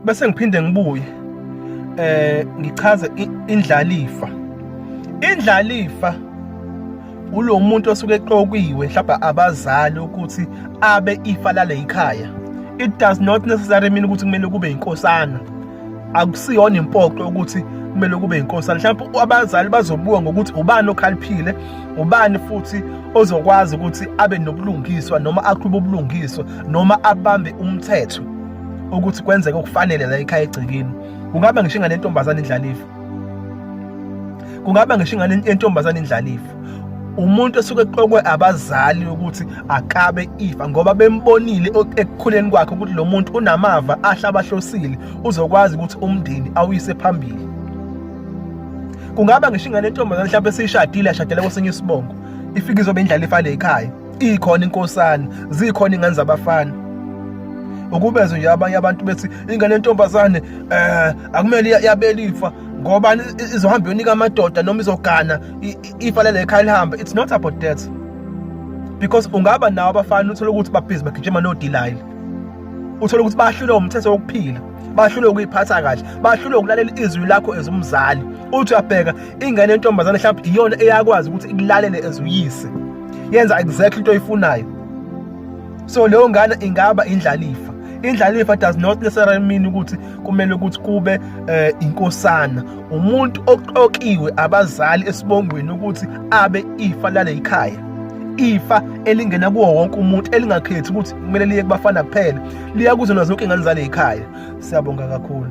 bese ngiphinde ngibuye eh ngichaze indlalifa indlalifa ulo muntu osuke eqokiwe mhlawumbe abazali ukuthi abe ifa lale yikhaya it does not necessarily mean ukuthi kumele kube inkosana akusiyona impoqo ukuthi kumele kube inkosana mhlawumbe abazali bazobuka ngokuthi ubani okhaliphile ubani futhi ozokwazi ukuthi abe nobulungiswa noma aqhube ubulungiswa noma abambe umthetho ukuthi kwenzeke okufanele la ekhaya egcekeni kungaba ngisho ingane yentombazane indlalifa kungaba ngisho ingane yentombazane indlalifa umuntu esuke eqokwe abazali ukuthi akabe ifa ngoba bembonile ekukhuleni kwakhe ukuthi lo muntu unamava ahla abahlosile uzokwazi ukuthi umndeni awuyise phambili kungaba ngisho ingane yentombazane mhlawumbe esishadile ashadele kwesinye isibongo ifike izobe indlala ifale ekhaya ikhona inkosana zikhona ingane zabafana ukubezwe nje abanye abantu bethi ingane yentombazane eh akumele yabelifa ngoba izohamba yonika amadoda noma izogana ifa lele ekhaya lihamba it's not about that because ungaba nawo abafana uthole ukuthi babhizi bagijima nodilile uthole ukuthi bahlulwe umthetho wokuphila bahlulwe ukuyiphatha kahle bahlulwe ukulalela izwi lakho ezumzali uthi uyabheka ingane yentombazane mhlawumbe iyona eyakwazi ukuthi ikulalele ezuyise yenza exactly into oyifunayo so leyo ngane ingaba indlalifa indlalifa does not necessarily mean ukuthi kumele ukuthi kube eh, inkosana umuntu oqokiwe abazali esibongweni ukuthi abe ifa lale yikhaya ifa elingena kuwo wonke umuntu elingakhethi ukuthi kumele liye kubafana kuphela liya kuzona zonke ingane zale yikhaya siyabonga kakhulu